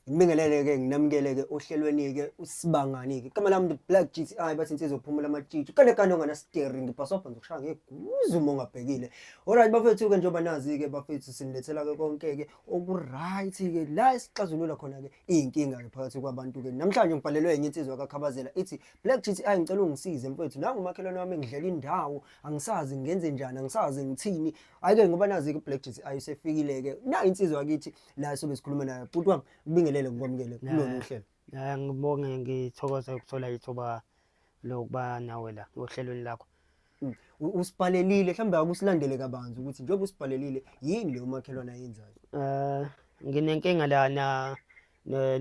Ngibingelele-ke nginamukele-ke ohlelweni-ke usibangani-ke igama lami black g t i bathi insizwa ophumula amatshitshi kanekane onganasiteri ngibhasobha ngizokushaya ngeguzu uma ungabhekile olright bafethu-ke njengoba nazi-ke bafethu sinilethela-ke konke-ke oku-right-ke la esixazulula khona-ke iy'nkinga-ke phakathi kwabantu-ke namhlanje ngibhalelwe enye insizwa kakhabazela ithi black g t i ngicela ungisize mfethu nangumakhelwane wami ngidlela indawo angisazi ngenze njani angisazi ngithini hhayi-ke ngoba nazi-ke black g t i usefikile-ke na insizwa kithi la sobe sikhuluma naye bhuti wami kubingelele ngikwamukele kulona uhlelo ya ngibonge ngithokoza ukuthola ithuba lokuba nawe la ohlelweni lakho mm. usibhalelile mhlawumbe akusilandele kabanzi ukuthi njengoba usibhalelile yini leyo makhelwane ayenzayo um nginenkinga lana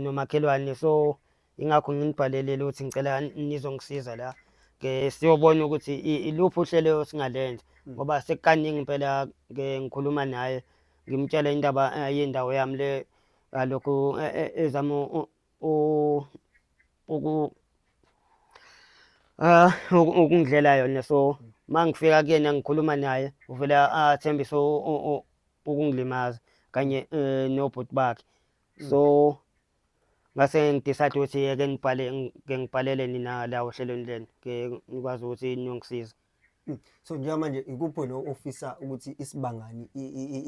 nomakhelwane so ingakho nginibhalelile ukuthi ngicela nizongisiza la ke siyobona ukuthi iluphi uhlelo singalenza hmm. ngoba sekukaningi impela ke ngikhuluma naye ngimtshela indaba eh, yendawo yami le alokhu eh, eh, ezama uku ah ukungidlela yona so hmm. mangifika kuyena ngikhuluma naye uvele athembise ukungilimaza kanye nobhuti bakhe hmm. so ngase ngidecide ukuthi ke ngibhale ke ngibhalele nina la ohlelweni lenu ke ngikwazi ukuthi niyongisiza hmm. so njengamanje ikuphi wena ofisa ukuthi isibangani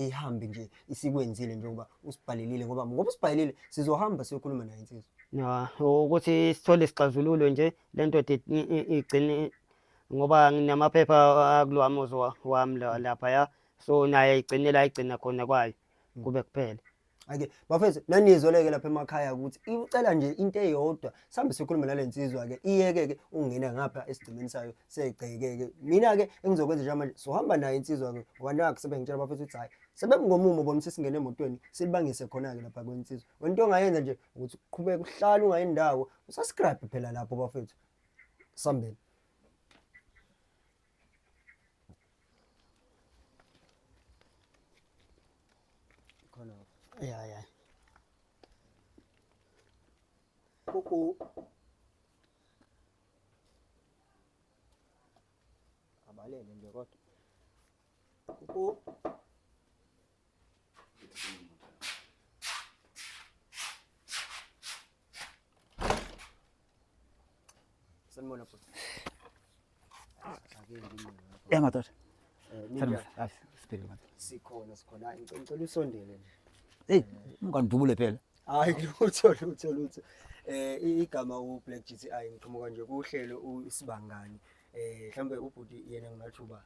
ihambe nje isikwenzile njengoba usibhalelile ngoba ngoba usibhalelile sizohamba siyokhuluma naye insizwa ya ukuthi sithole isixazululo nje lento igcine ngoba nginamaphepha akulwami uzwa wami lapha ya so naye igcinela igcina khona kwayo hmm. kube kuphela Okay, bafethu nanizweleke lapha emakhaya ukuthi icela nje into eyodwa sambe sikhulume nale nsizwa ke iyeke ke ungena ngapha esigcimeni sayo segceke ke mina ke engizokwenza nje manje sohamba naye insizwa ke wanaka sebengitshela bafethu ukuthi hayi sebemngomumo bona sesingena emotweni silibangise khona ke lapha kwensizwa wento ongayenza nje ukuthi uqhubeke uhlale ungayindawo usascribe phela lapho bafethu sambeni khona ya ya kuku abalele nje kodwa kuku Sanmona po. Ya matar. Sanmona. Ay, spiri mat. Sikhona sikhona. Ngicela usondele nje. Hey, ungandubule phela. Hayi lutho lutho lutho. Eh igama u Black GTI ngiqhamuka nje kuhlelo usibangani. Eh mhlambe ubhuti yena ngingathi uba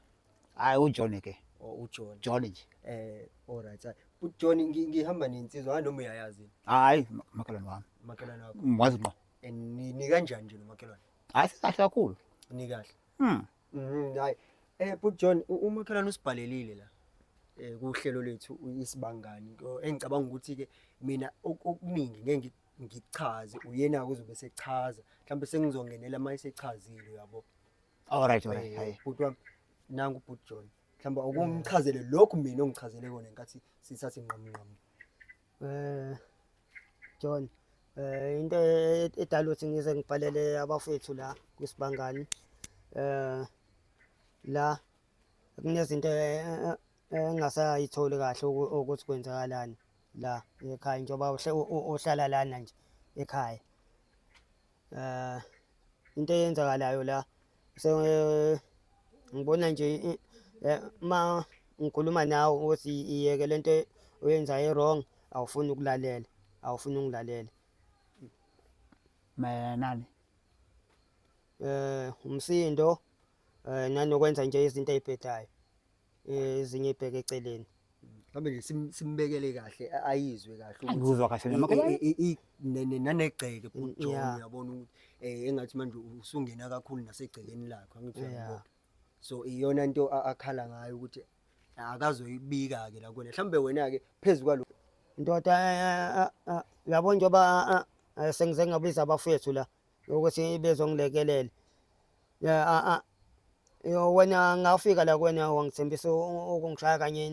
hayi ujohn ke oh, ujohn john nje eh alright ujohn ngihamba nensizwa hayi noma uyayazi hayi makhelwane wami makhelwane wakho ngwazi ngqo eh, ni kanjani nje nomakhelwane hayi sikahle kakhulu ni kahle mm mhm, hayi eh but john umakhelwane usibhalelile la eh kuhlelo lethu isibangani engicabanga ukuthi ke mina okuningi ngeke ngichaze uyena kuzobe sechaza mhlawumbe sengizongenela uma esechazile uyabo Alright, alright. Hayi. Bhuti wami nangu bhuti John. Mhlawumbe ukumchazele lokhu mina ongichazele kona nkathi sithatha inqamu nqamu. Eh John eh into e- edala ukuthi ngize ngibhalele abafethu la kwisibangani eh la kunezinto e- e- engasayitholi kahle uku- ukuthi kwenzakalani la ekhaya njengoba uhle- u- u- uhlala lana nje ekhaya Eh into eyenzakalayo la so eh, ngibona nje eh, eh, ma ngikhuluma nawe ukuthi iyeke lento oyenzayo wrong awufuni ukulalela awufuni ungilalela mayelana eh umsindo eh nanokwenza nje izinto ezibhedayo eh, ezinye ibheke eceleni mhlawumbe nje sim- simbekele kahle a- ayizwe kahle ukuthi angikuzwa kahle i- nami i- i- i- ne- ne- nanegceke Mm, futhi John yeah. uyabona ukuthi eh engathi manje usungena kakhulu nasegcekeni lakho angithi Yeah. uyabona so iyona into a- akhala ngayo ukuthi akazoyibika ke la kuwena mhlawumbe wena ke phezulu kwalo ndoda eh, eh, eh, eh, uyabona njengoba eh, eh, sengize ngabiza abafowethu la ukuthi bezongilekelela ya a a yo wena ngafika la kwena wangithembisa ukungishaya kanye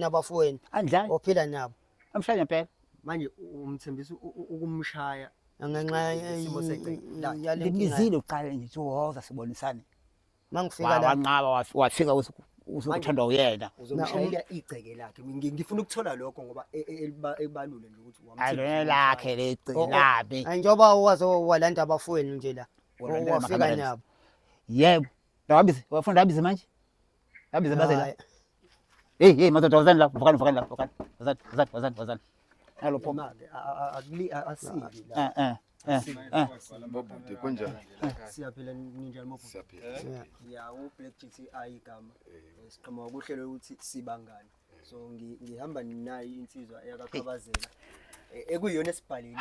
nabafweni andlani ophila nabo amshaya ngempela manje umthembisa ukumshaya ngenxa yesimo sengcela ngibizile uqala nje uwoza sibonisane mangifika la wanqaba wafika usukuthandwa uyena uzomshayela igceke lakhe ngifuna ukuthola lokho ngoba e, e, elibalule nje ukuthi wamthini lakhe legceke oh, oh. labi njengoba waze walanda abafowenu nje la wafika nabo yebo Ndabize, wafuna ndabize manje? Ndabize bazela. Hey, hey, madoda wazani la, vukani, vukani la, vukani. Wazani, wazani, wazani, wazani. Alo pho. Mali akuli asili la. Eh, eh. Eh. Bobuti kunjani? Siyaphila ninjani bobuti? Siyaphila. Ya u Black GTI e igama. Eh. Eh, siqhamuka kuhlelo ukuthi sibangani. Eh. So ngihamba ninayo insizwa eyakakhabazela. Ekuyona esibhalile.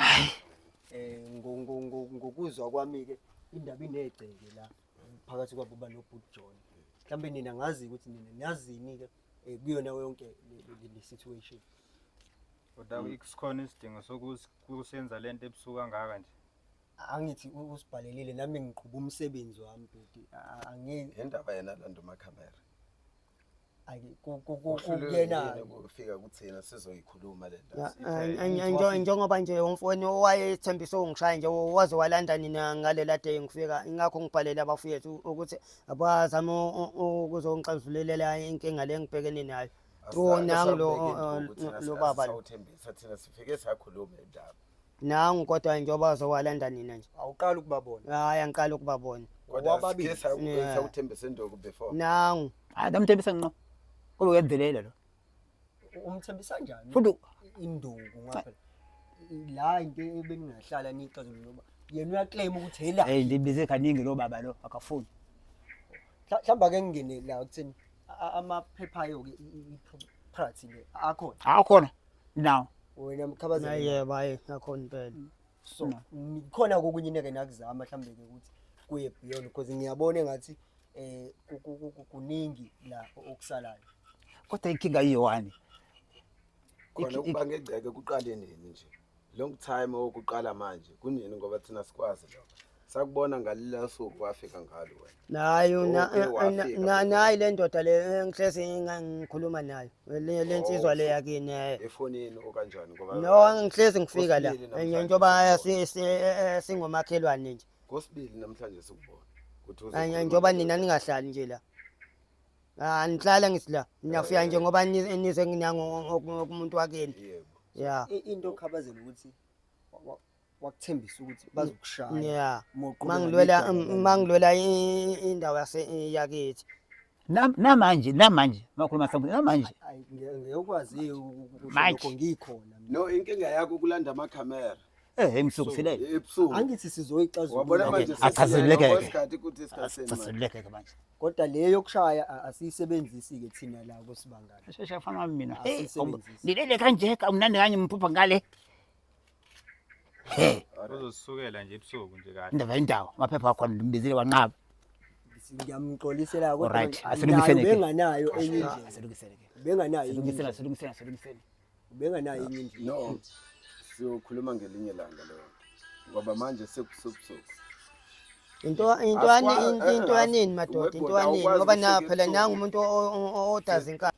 Eh ngokuzwa kwami ke indaba inegceke la. phakathi kwabo uba nobhuti John mhlawumbe nina ngazi ukuthi nina niyazini-ke um kuyona yonke le situation kodwa mm. sikhona isidingo sokusenza le nto ebusuku kangaka nje angithi usibhalelile nami ngiqhuba umsebenzi wami bhuti angeke indaba yena lando makhamera Angi- ku- ku- ku- Uhlulwe kuyena yini ukufika kuthina sizoyikhuluma le Ya, ndaba an- an- Ngithi njo- wafika- njengoba nje umfowenu owayethembise ungishaya nje waze walanda nina ngalela day ngifika ingakho ngibhalele abafowethu ukuthi abazame u- u- ukuzongixazululela inkinga le engibhekene nayo Asizange Wona ngilo- sambeke o- o- lutho ukuthi lo- asi- lo baba lo. asisawuthembisa thina sifike sakhuluma indaba nangu kodwa hhayi njengoba zowalanda nina nje awuqala ukubabona hhayi angiqala ukubabona kodwa Wababili. sike saku- Yeah. sakuthembisa induku before nangu hayi ndamthembisa nqo kube uyadelela lo umthembisa kanjani futhi induku ngoba phela la into ebeningahlala niyixazulule ngoba yena uyaclaim ukuthi hela hey ndibize kaningi lo baba lo akafuni Mhla- mhlawumbe ake ngingene la kutheni a- a- amaphepha ayo-ke i- i- i- property le akhona hawu khona now wena mkhabaza yebo hayi ngakhona impela mm. so mm. khona kokunye neke nakuzama mhlawumbe ke ukuthi kuye beyond because ngiyabona ngathi eh kuningi la okusalayo kodwa inkinga iyowani khona ukuba ngegceke kuqale nini nje long time okuqala manje kunini ngoba thina sikwazi lokho sakubona ngalila suku wafika ngalo wena nayo oh, na- eh, eh, na- na- nayi le ndoda le eh, ngihlezi nginga- ngikhuluma nayo le le oh, nsizwa le yakini eh. efonini okanjani ngoba no ngihlezi ngifika la Usibili namhlanje. Eh, njengoba si- si- eh, eh, singomakhelwane nje kosibili namhlanje sikubona ukuthi uzokhuluma Eh, njengoba nina ningahlali nje la Ah, nihlala ngithi la niyafika nje ngoba ni- nize nginango umuntu wakini yebo ya into okhabazela ukuthi wa- wa- wakuthembisa ukuthi bazokushaya yeah mangilwela mangilwela indawo yase yakithi namanje namanje makhuluma sambuthi namanje ngiyokwazi lokho ngikhona no inkinga yakho kulanda amakhamera eh emsuku sile ebusuku angithi sizoyixazulula wabona manje achazeleke achazeleke manje kodwa le yokushaya asiyisebenzisi ke thina la kusibangana shesha fana mina hey ngilele kanje kamnandi kanye mphupha ngale He, Uzosukela nje ebusuku nje kahle. indaba indawo amaphepha akhona ndimbizile wanqaba. ngiyamxolisela kodwa Alright, manje asilungiseni nayo ke. benganayo enye indlela Asilungiseni ke. benganayo enye Asilungiseni, indlela asilungiseni, asilungiseni. benganayo enye indlela no siyokhuluma ngelinye langa leyo ngoba manje sekusubusuku into into Aswa- ani- into- eh, into eh, anini madoda into awukwazi anini ngoba na ukusuka phela ebusuku. nangu umuntu o- o- o- odaza inkani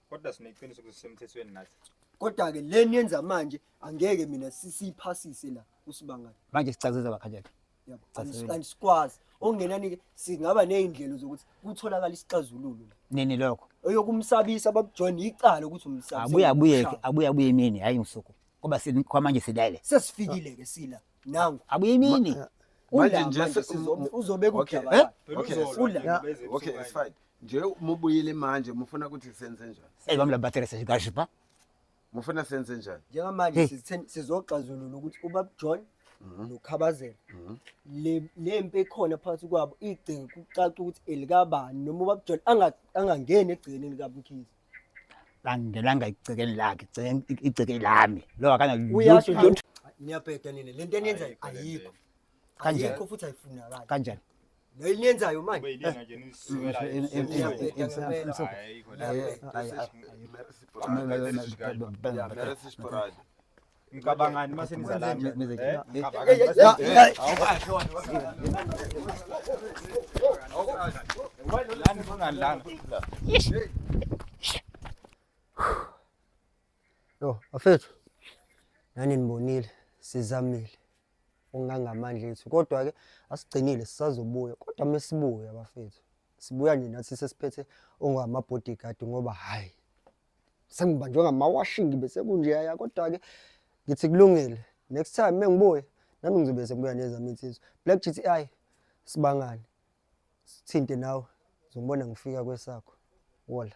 kodwa sineqiniso ukuthi sisemthethweni nathi kodwa-ke le niyenza manje angeke mina si- siyiphasise la usibangani manje sicacise bakhathele yabo Sasele. Angis- angisikwazi okungenani-ke singaba ney'ndlela zokuthi kutholakale isixazululo la nini lokho eyokumsabisa bakujoyine yicala ukuthi umsabisa abuye abuye abuye abuye emini hhayi ngosuku ngoba seni- kwamanje silele sesifikile-ke sila nangu abuye imini eh, manje nje uzobe kujabala eh? okay okay it's fine nje mubuyile manje mufuna ukuthi senze njani hey bamla battery sesikashi ba mufuna senze njani njengamanje sizoxazulula ukuthi ubab John mhm. nokhabazela mhm. le lempi ekhona phakathi kwabo igceke kucaca ukuthi elikabani noma ubab John angangeni egcekeni likabumkhize angingenanga igcekeni lakhe igcekeni lami lo akananiyabheda nina le nto eniyenzayo ayikho ayikho futhi ayifunakali kanjani le eniyenzayo manje Mcabangani uma senizalani? Eh? Mcabangani uma senizalani? Awukasho wena. Awukasho. Wena lana kungani lana? Yo, afethu. Nani nibonile, sizamile. Ungangamandla ethu. Kodwa ke asigcinile sisazobuya. Kodwa mesibuya bafethu. Sibuya nje nathi sesiphethe ongama bodyguard ngoba hayi sengibanjwe ngamawashingi bese kunjeya kodwa-ke ngithi kulungile next time mengibuye nami ngizobe sekubuya nezami insizwa black gti sibangane sithinte nawe zongibona ngifika kwesakho wola